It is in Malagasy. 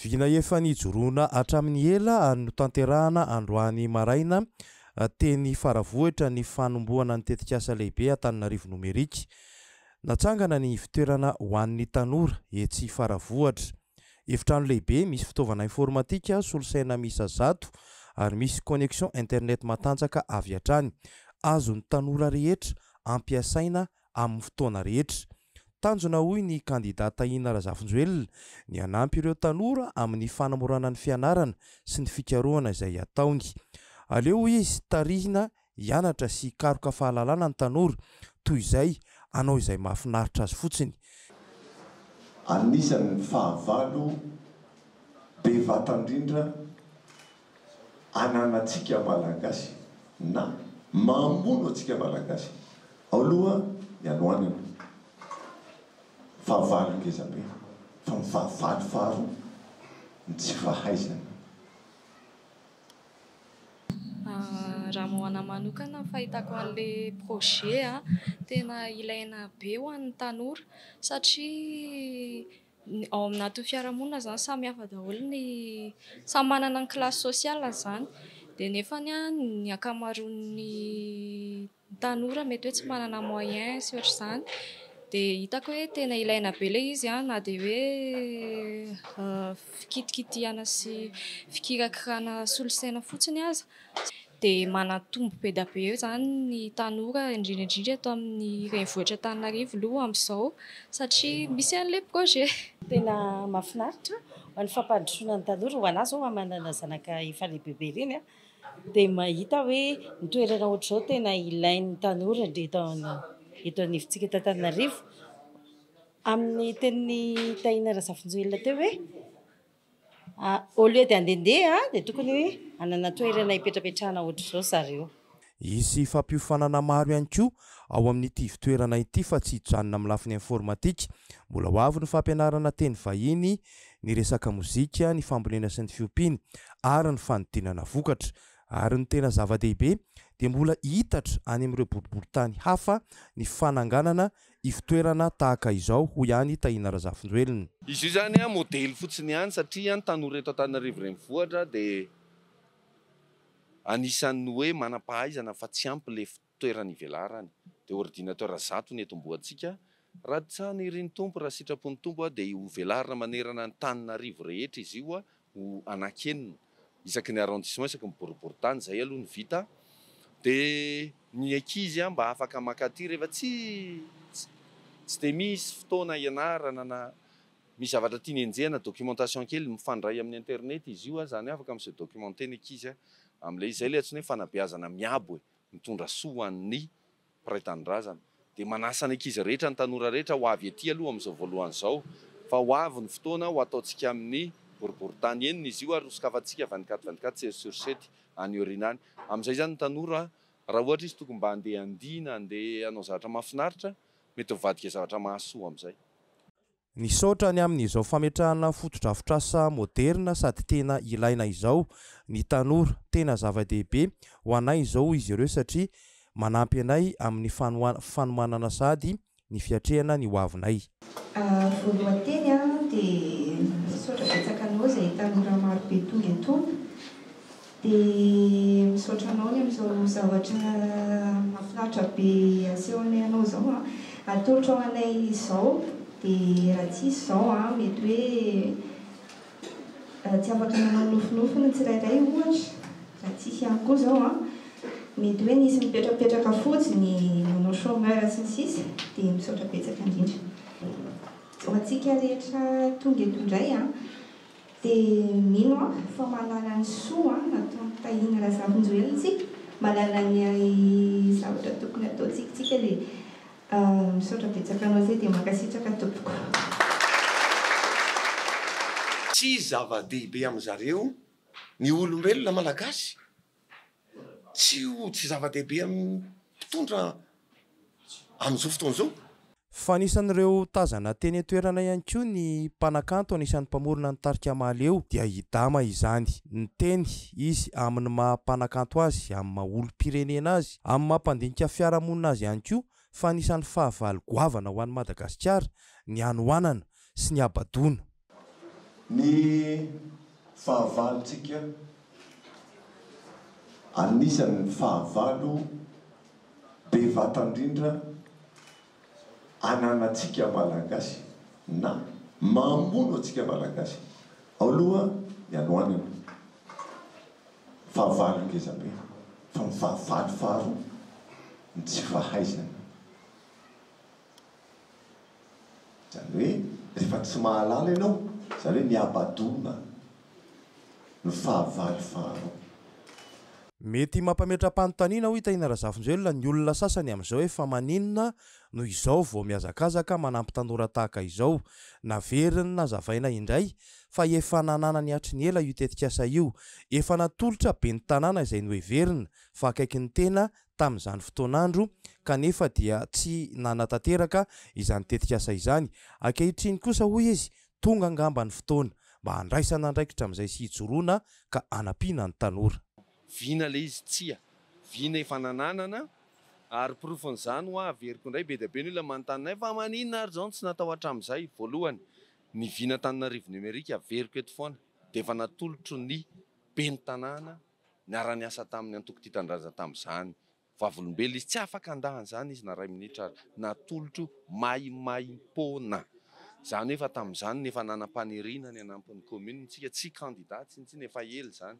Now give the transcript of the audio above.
Vina efa nijoroana hatramin'ny ela ary notanterahana androany maraina teny Faravohitra ny fanombohana ny tetikasa lehibe Antananarivo Nomerika. Natsangana ny ivon-toerana ho an'ny tanora etsy Faravohitra. Efitrano lehibe misy fitaovana informatika solosaina miisa zato ary misy connexion internet matanjaka avy hatrany. Azon'ny tanora rehetra ampiasaina amin'ny fotoana rehetra. Tanjona hoy ny kandida Tahina Razafinjoelina ny hanampy ireo tanora amin'ny fanamorana ny fianarana sy ny fikarohana izay ataony. Aleo hoy izy tarihina hianatra sy hikaroka fahalalana ny tanora toy izay hanao izay mahafinaritra azy fotsiny. Anisan'ny fahavalo be vatan-drindra ananantsika Malagasy na mamono antsika Malagasy ao loha ny anoanana. Fahavalo ngeza be fa ny fahavalo faharoa ny tsy fahaizana. Raha ho anah manokana ny fahitako anle projet tena ilaina be ho an'ny tanora satria Ao amin'atin'ny fiarahamonina izany samy hafa daholo ny, samy manana ny kilasy sosialiny izany dia nefany ny ankamaroan'ny tanora mety hoe tsy manana moyen sy ohatr'izany dia hitako hoe tena ilaina be ilay izy na dia hoe fikitikitihana sy fikirakirana solosaina fotsiny aza. dia manantombo be dia be izany ny tanora indrindra indrindra eto amin'ny renivohitra Antananarivo aloha amin'izao satria misy an'ilay projet. Tena mahafinaritra ny fampandrosoana ny tanora, ho anah izao manana zanaka efa lehibebe ireny dia mahita hoe ny toerana ohatr'izao tena ilain'ny tanora eto anivontsika eto Antananarivo, amin'ny tenin'i Tahina Razafinjoelina teo hoe. Au lieu de handehandeha an, dia tokony hoe hanana toerana hipetrapetrahana ohatr'izao zareo. Hisy fampiofanana maro ihany koa ao amin'ity ivtoerana ity fa tsy hijanona amin'ny lafiny informatika. Mbola ho avy ny fampianarana teny vahiny, ny resaka mozika, ny fambolena sy ny fiompiana ary ny fanodinana vokatra. Ary ny tena zava-dehibe dia mbola hiitatra any amin'ireo boriborintany hafa ny fananganana ivotoerana tahaka izao, hoy ihany i Tahina Razafinjoelina. Izy io izany modely fotsiny ihany satria ny tanora eto Antananarivo Renivohitra dia anisan'ny hoe manam-pahaizana fa tsy ampy ilay fitoerana ivelarany. Dia ordinateur zato no etombohantsika. Raha tian'iry ny Tompo, raha sitrapon'ny Tompo dia hovelarina manerana ny tanin'Arivo rehetra izy io ho anankenina isaky ny arrondissement, isaky ny boriboritany, izay aloha ny vita, dia ny ankizy mba afaka maka aty rehefa tsy tsy dia misy fotoana hianarana na misy zavatra tiany enjehina, documentation kely, mifandray amin'ny internet izy io, izany hoe afaka mi-se documenter ny ankizy amin'ilay izy, izay ilay antsoina hoe fanabeazana miabo e, mitondra soa ho an'ny. Mpiray Tanindrazana dia manasa ny ankizy rehetra, ny tanora rehetra ho avy ety aloha amin'izao voalohany izao fa ho avy ny fotoana ho ataontsika amin'ny boriborintany enina izy io ary ho sokafantsika vingt-quatre vingt-quatre sept sur sept any aoriana any. Amin'izay izany ny tanora raha ohatra izy tokony mba handeha handihy na handeha hanao zavatra mahafinaritra, mety mivadika zavatra mahasoa amin'izay. Nisaotra ny amin'izao fametrahana fotodrafitrasa moderina sady tena ilaina izao ny tanora. Tena zava-dehibe ho anay izao hoy izy ireo satria manampy anay amin'ny fanomanana sady ny fiatrehana ny hoavinay. Vao lohateny aho dia misaotra betsaka anao izay tanora marobe tonga eto. Dia misaotra anao ny amin'izao zavatra mahafinaritra be asehonay anao izao an! Atolotrao anay izao dia raha tsisy izao an, mety hoe tsy afaka nanao nofinofy ny tsirairay ohatra, raha tsisy ihany koa izao an, mety hoe nisy nipetrapetraka fotsiny nanao chômeur sy ny sisa dia misaotra betsaka indrindra. Ho antsika rehetra tonga eto indray an! Dia mino aho fa mahalala ny soa nataon'i Tahiana Razafinjoelina isika, mahalala ny zavatra tokony hataontsika isika dia misaotra betsaka anao zay dia mankasitraka tompoko. Tsy zava-dehibe amin'izareo ny olombelona malagasy tsy ho tsy zava-dehibe amin'ny mpitondra amin'izao fotoana izao. Fa anisan'ireo tazana teny an-toerana ihany koa ny mpanakanto anisan'ny mpamorona ny tarika Mahaleo dia i Dama izany. Niteny izy amin'ny maha mpanakanto azy, amin'ny maha olom-pirenena azy, amin'ny maha mpandinika fiarahamonina azy ihany koa fa anisan'ny fahavalo goavana ho an'i Madagasikara ny hanoanana sy ny habadoana. Ny fahavalontsika, anisan'ny fahavalo be vata indrindra ananantsika Malagasy na mamono antsika Malagasy ao aloha ny hanoanana, fahavalo ngeza be, fa ny fahavalo faharoa ny tsy fahaizana. Izany hoe rehefa tsy mahalala ianao, izany hoe mihabadona ny fahavalo faharoa. Mety mampametra-panontaniana hoy Tahina Razafinjoelina ny olona sasany amin'izao hoe fa maninona no izao vao mihazakazaka manampy tanora tahaka izao. Naveriny nazavaina indray fa efa nananany hatry ny ela io tetikasa io. Efa natolotra ben'ny tanàna izay noheverina fa akaiky ny tena tamin'izany fotoan'andro kanefa dia tsy nanatanteraka izany tetikasa izany. Ankehitriny kosa hoy izy, tonga angamba ny fotoana mba handraisana andraikitra amin'izay sy hijoroana ka hanampiana ny tanora. Vina ilay izy? Tsia, vina efa nananana ary porofon'izany hoa averiko indray, be dia be ny olona manontany anay fa maninona ary izao no tsy natao hatramin'izay? Voalohany, ny vina Antananarivo Numérique averiko eto foana dia efa natolotry ny ben'ny tanàna Niara-niasa tamin'ny antoko Tia Tanindrazana tamin'izany. Vavolombelona izy. Tsy afaka handà an'izany izy na iray minitra ary. Natolotro maimaimpoana. Izany hoe efa tamin'izany no efa nanam-paniriana ny hanampy ny kaomininy isika. Tsy kandidà tsintsina, efa ela izany.